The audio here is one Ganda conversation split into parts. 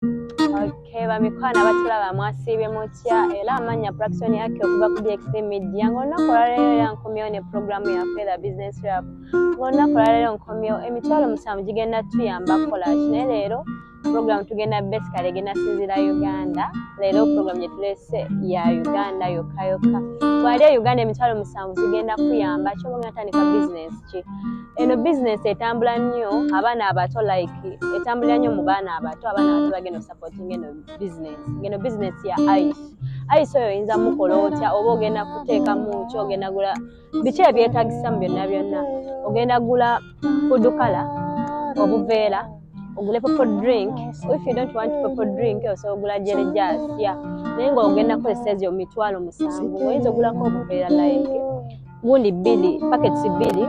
Okay, bamikwano abatulaba mwasiibye mutya era amanya praction yake okuva ku DXT Media ng'olunaku olwaleero era nkomyewo ne pulogulaamu yaffe the business rap ng'olunaku olwaleero nkomyewo emitwalo musanvu gigenda tuyamba kukola ki naye leero pulogulaamu tugenda basically egenda sinzira Uganda leero pulogulaamu gye tulese ya Uganda yokka yokka bwali e Uganda emitwalo musanvu zigenda kuyamba kyoba ogenda tandika bizinesi ki eno bizinesi etambula nnyo abaana abato like etambulira nnyo mu baana abato abaana abato bagenda osapotinga eno bizinesi ngeno bizinesi ya ice ice oyo oyinza mukola otya oba ogenda kuteeka mu ki ogenda gula biki ebyetagisa mu byonna byonna ogenda gula fudukala obuveera ogule popo drink if you don't want popo drink osobola ogula jerejasya naye nga ogenda kukozesa ezo mitwalo musanvu oyinza ogulako obuveera like wundi bbiri paketi bbiri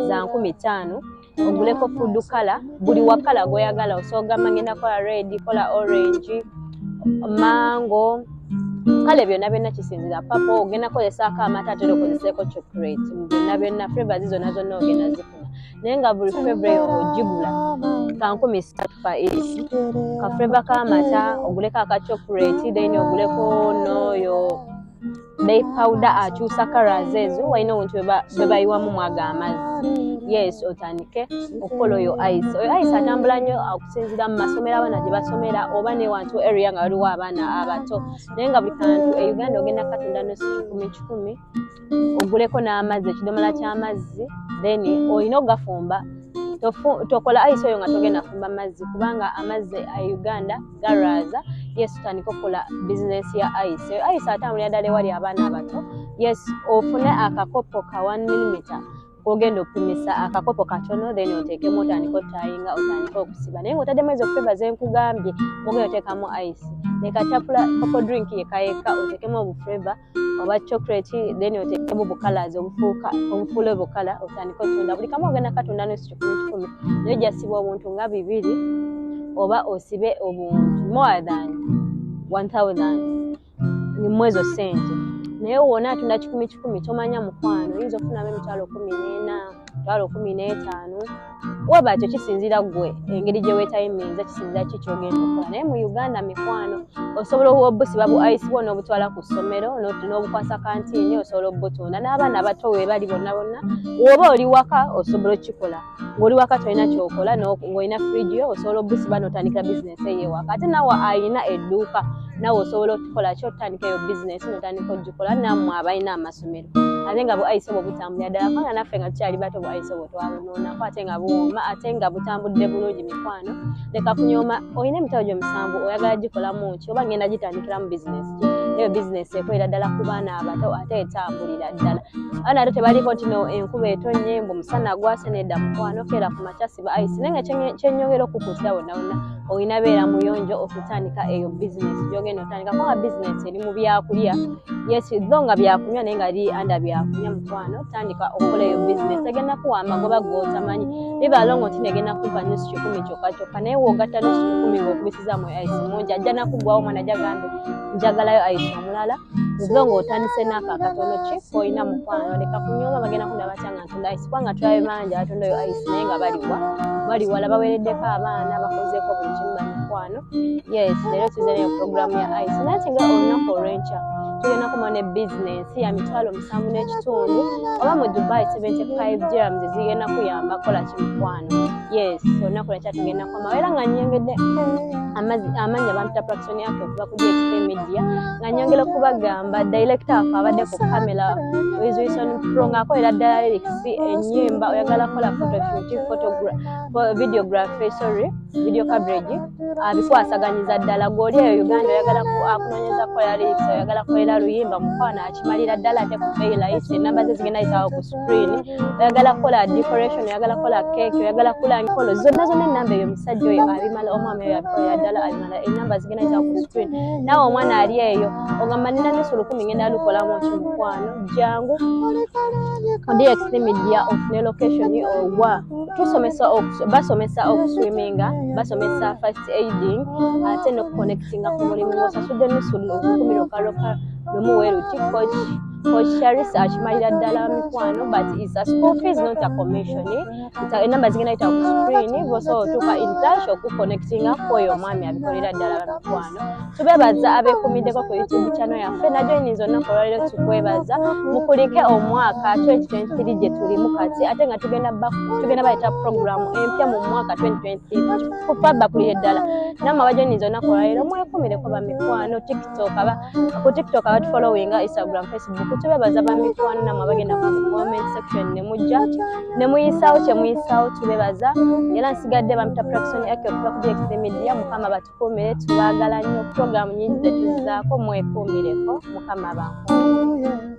za nkumi ttaano oguleko fudu kala buli wakala gwoyagala osobola gamba ngenda kola red kola orange mango kale byonna byonna kisinzira papa ogenda kozesaako amata atera okozeseeko chocolate byonna byonna flavors zonna zonna ogenda zifuna naye nga buli flavor eyo ogigula kankumi satu fa each kaflavor k'amata oguleko aka chocolate then oguleko nooyo bay powder akyusa colors ezo walina obuntu bebayiwamu mwaga amazzi yes otandike okukola oyo ice oyo ice atambula nnyo okusinzira mu masomero abaana gye basomera oba newantu area nga waliwo abaana abato naye nga buli kantu e uganda ogenda katunda nosi kikumi kikumi oguleko n'amazzi ekidomola ky'amazzi then olina okugafumba tokola ice oyo nga togenda fumba mazzi kubanga amazzi e uganda garaaza yes tutandika okukola bizinesi ya ice eyo ice atambulira ddala ewali abaana abato yes ofune akakopo ka one millimeter kogenda okupimisa akakopo katono then oteekemu otandika otayinga otandika okusiba naye ngaotaddemu ezo feva zenkugambye mugenda oteekamu ice nekatapula kopo drink yekayeka oteekemu obufeva oba chocolate then otekemu bukalas obufuuka obufuule bukala otandika otunda buli kamu ogenda katunda nusu kikumi kikumi naye ojasiba obuntu nga bibiri oba osibe obuntu more than 1000 mumwezo sente naye wona atunda kikumi kikumi tomanya mukwano oyinza okufunamu emitwalo kumi nena mitwalo kumi netaano waba ekyo kisinzira gwe engeri gye weetayiminza kisinzira ki kyogenda okukola naye mu uganda mikwano osobola obusiba bu ice bwona obutwala ku ssomero n'obukwasa kantiini osobola obutunda n'abaana abato webali bonna bonna woba oli waka osobola okukikola ng'oli waka tolina kyokola ng'olina fridge yo osobola obusiba n'otandikira bizinesi eyo ewaka ate nawe alina edduuka nawe osobola okukikola ki otandika eyo bizinesi n'otandika okugikola nammwe abalina amasomero ate nga buayise bwe butambulira ddala kubanga naffe nga tukyali bato buayise bwe twabunoonako ate nga buwooma ate nga butambudde bulungi mikwano leka kunyooma olina emitabo gyo musanvu oyagala gikolamu ki oba ngenda gitandikiramu bizinesi ki eyo bizinesi ekolera ddala ku baana abato ate etambulira ddala abaana ato tebaliko nti no enkuba etonnye mbu musana gwase nedda mukwano keera ku makyasi buayise naye nga kyenyongera okukuutira wonna wonna olina beera muyonjo okutandika eyo bizinesi gyogenda otandika kuba bizinesi eri mu byakulya yes tho nga byakunywa naye nga ri anda byakunywa mukwano tandika okukola eyo bizinesi egenda kuwa amagoba gotamanyi bibalongo nti negenda kuva nusu kikumi kyokka kyokka naye wogatta nusu kikumi ngaokubisiza mu ice mungi ajja nakuggwawo omwana ajja gambe njagalayo ice omulala nziba ng'otandise naako akatono ki koolina mukwano leka kunyoma bagenda kunda batya nga ntunda ayisi kubanga tulabe bangi abatunda oyo ayisi naye nga baliwa baliwala bawereddeko abaana bakozeeko buli kimu bamukwano yes leero tuze nayo puroguramu ya ayisi nati nga olunaku olwenkya tugenda kuma ne bizinensi ya mitwalo musanvu n'ekitundu oba mu dubai 75 grams zigenda kuyamba kola kimukwano yes olunaku lwenkya tugenda mama era nga nyengedde amazi amanyi abantu ta praction yake okuva ku DXP media nga nyongera okubagamba director waffe abadde ku camera Wizwison Pro nga akolera ddala lyrics ennyimba oyagala kola photo shoot photograph videography sorry video coverage abikwasaganyiza ddala gwoli eyo Uganda oyagala akunonyeza kola lyrics oyagala kolera luyimba mukwano akimalira ddala ate ku pay life enamba ze zigenda yitawo ku green oyagala kukola decoration oyagala kukola cake oyagala kula nkolo zonna zonna enamba eyo omusajja oyo abimala omwami oyo abikola ddala abimala enamba zigenda za ku screen nawe omwana ali eyo ogamba nina nusu lukumi ngenda lukolamu ki mukwano jangu dxmedia ofune location owa tusomesa basomesa okuswiminga basomesa first aiding ate nokuconnectinga ku mulimu osasudde nusu lukumi lokalokalo nomuweru kikoki Coach Charis akimalira ddala mikwano but is a school fees not a commission enamba zigenda yita ku screen bosobola otuuka in touch okuconnectinga kwoyo omwami abikolera ddala bamikwano tubebaza abekumiddeko ku youtube channel yaffe najoininza olunaku olwaliro tukwebaza mukulike omwaka 2023 gye tulimu kati ate nga tugenda bayita program empya mu mwaka 2023 kufa bakulire ddala namwe abajoininza olunaku olwaliro mwekumireko bamikwano tiktok aba ku tiktok abatu followinga instagram facebook tubebaza bamikwano namwe abagenda ku comment section ne mujja ne muyisawo kye muyisawo tubebaza era nsigadde bamita praxon ake okuva ku dx media mukama batukuumire tubagala nnyo program nyingi zetuzizaako mwekuumireko mukama bankuumire